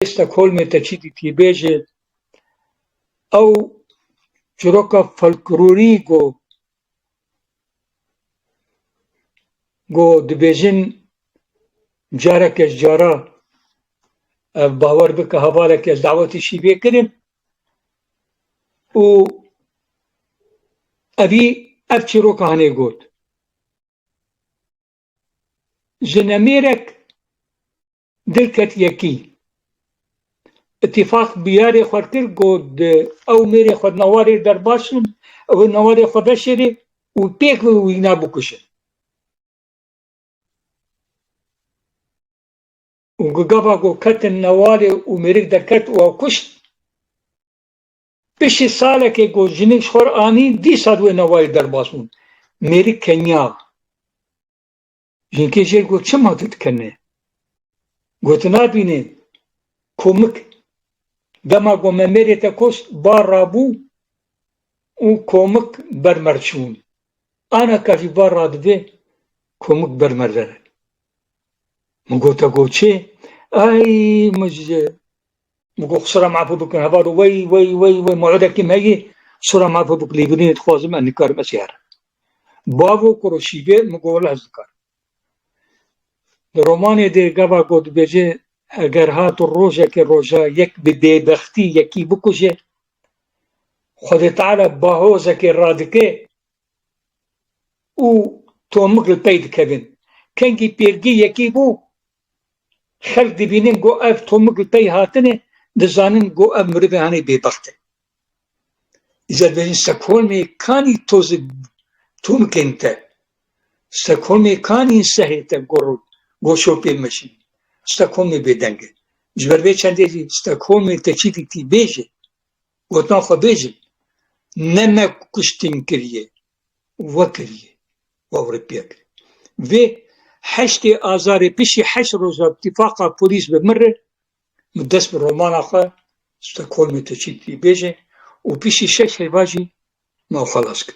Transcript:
Rêberê Stockholmê te çi dîtî bêje. Ew çîroka folklorî ku ku dibêjin careke ji cara ev bawer bike hevaleke ez dawetê şîvê kirin û evî ev çîroka hinê got. Ji nemêrek Dil ket yekî. Îtîfaq bi yarê xwe kir ku di ew mêrê xwe newarê der baş in, ew ê newarê xwe veşêrê û pêk bi wîna bikuşin. Û ku gava ku ketin newarê û mêrik derket û ew kuşt, piştî salekê ku jinik ji xwe re anî dîsa di wê newarê der baş bûn. Mêrik keniya. Jinkê jêr got çima tu dikenê? Got nabînê komik dema got me mêrê te kost bar rabû û komik ber mer çûn. Ana ka jî bar radibê komik ber mer dere. Min gote got çê? Ay min ji Digo sura mafû bikin heval û wey wey wey wey muedekî me yî sura mafû bik lêbirînê dixwazim ez nikarim ez herim. Bavo kur û şîvê min got wela ez nikarim. Di romanê de gava ku dibêje eger hat û rojekê roja yek bi bêbextî yekî bikuje Xwedê Teala bahozekê radike û tomik li pey dikevin. Kengî pêrgî yekî bû Xelk dibînin ku ev tomik li pey hatin e, dizanin ku ev mirivên hanê bêbext in. Îcar dibêjin Stokholmê kanî tozê tomikên te, Stokholmê kanî insehê te gor û goşo pê meşîn. Stokholmê bêdeng e. Ji ber vê çendê jî Stokholmê te çi dîtî bêje. Gotina xwe bêjin. Ne me kuştin kiriye, we kiriye. Ewropiyek. Vê heştê Azarê piştî heşt roja tifaqa polîs bi min re min dest bi romana xwe Stockholmê tu çi dibêjî û piştî şeş hêva jî min xelas kir.